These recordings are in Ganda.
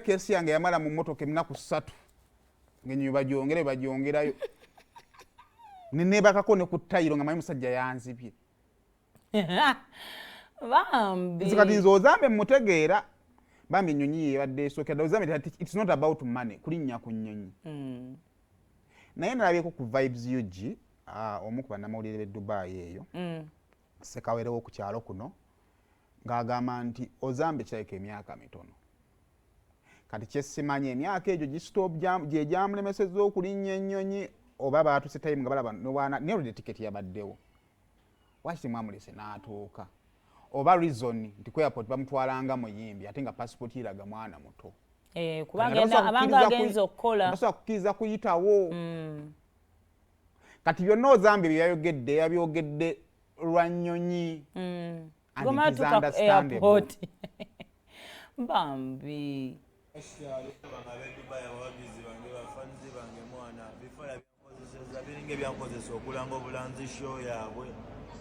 kesi yange yamala mu motoka emunaku satu ngenyo bajongere bajongerayo nenebakako ne ku tayiro nga manyi musajja yanzibye bambi kati nze ozambe mutegeera bambi enyonyi yebadde esokera ozambe its not about money kulinnya ku nyonyi hmm. naye nalabyeko ku vibes ug ah, omu ku banamawulire be dubai eyo hmm. ssekawere wo ku kyalo kuno ng'agamba nti ozambe kirabika emyaka mitono kati kyesimanya emyaka egyo gyegyamulemeseza okulinnya ennyonyi oba baatuse time nga balaba nerode tiketi yabaddewo waki temwamulese n'atuuka oba reason nti ku airport bamutwalanga muyimbi ate nga pasipooti iraga mwana muto eh, kubanga agenza okukola basobola kukkiriza kuyitawo mm. kati byonna ozambye bye yayogedde yabyogedde lwa nnyonyi mm. bambi biringa ebyankozesa okulanga obulanzi sho yaabwe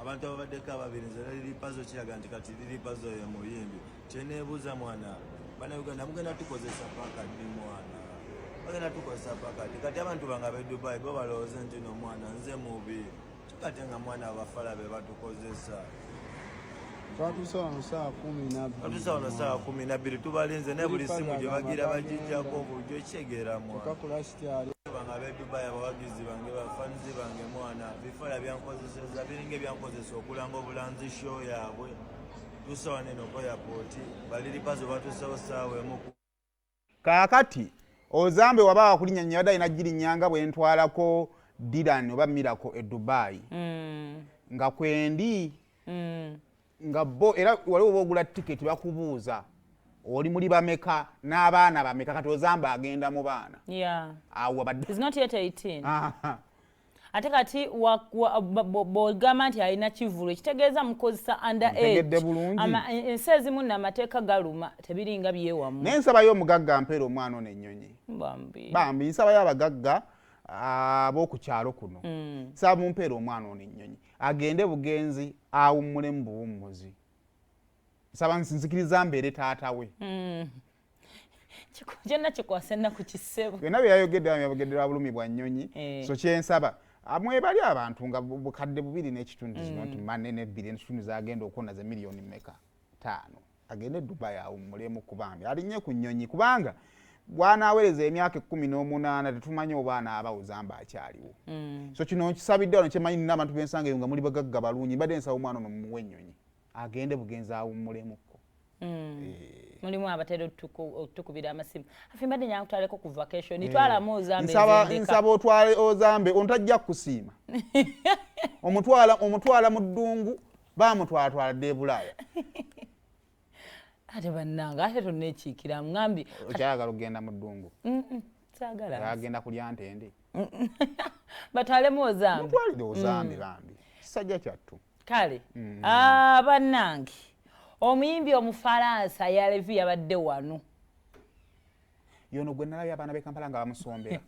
abantu ababaddeko ababiri nze lali lipazo kiraga nti kati lilipazo ye muyimbi kyeneebuuza mwana banauganda mugenda tukozesa paka ddi mwana bagenda tukozesa paka ddi kati abantu bange abe dubai bo balowooze nti no mwana nze mubi kikate nga mwana abafala be batukozesa twatuuse wano saa kumi nabbiri twatuuse wano saa kumi nabbiri tubalinze naye buli simu gye bagira bagijjako obujo ekitegeera mwana okakulasityali bange abe dubai abawagizi bange bafanizi bange mwana bifala byankoze Seza biringa ebyankozesa okulanga obulanzi show yaabwe tusa wano eno ko yapooti baliripazo batusawo saawa emu kaakati ozambe waba wakulinya nyo yabadde alina girinyanga bwe ntwalako diran oba mirako e dubai mm. nga kwendi mm. nga bo era wali oba ogula tiketi bakubuuza oli muli bameka n'abaana bameka kati ozambe agenda mu baana awo abadde ate kati bwogamba nti alina kivulu ekitegeeza mukozesa under e, ensi ezimu namateeka galuma tebiringa byewamu naye nsabayo omugagga mpeera omwana ono ennyonyi bambi nsabayo abagagga abokukyalo kuno mm. nsaba mumpeera omwana ono ennyonyi agende bugenzi awummule mu buwummuzi nsaba nzikiriza mbeere taata we mm. kyonna kikwasa ennaku kisebo byonna byeyayogedde yabogedde lwa bulumi bwa nnyonyi eh. so kyensaba ah, mwebali abantu nga bukadde bubiri n'ekitundu kino nti mm. mane nebbiri ekitundu zagenda okuwona ze miliyoni meka taano agende dubai awummulemu kubambi alinye ku nnyonyi kubanga bwanaawereza emyaka ekkumi n'omunaana tetumanyi oba anaabawuza mba akyaliwo mm. so kino nkisabidde wano kyemanyi nina abantu bensanga eyo nga muli bagagga balungi mbadde nsaba omwana ono mumuwa ennyonyi agende bugenzi awummulemu ko Mm. Eh. mulimu abatera otukubira amasimu afe mbadde nyanga kutwaleko ku vacation eh. itwalamu ozambensaba otwale ozambe ono tajja kukusiima omutwala mu ddungu bamutwalatwala dda ebulaaya ate bannange ate tonekiikira ŋambi okyayagala okugenda mu ddungu agenda kulya ntende batwalemu ozambe mutwalire ozambe mm. bambi kisajja kyattu kale mm. ah, bannange omuyimbi omufalansa yalevi yabadde wano yono gwe nalabye abaana bekampala nga bamusombera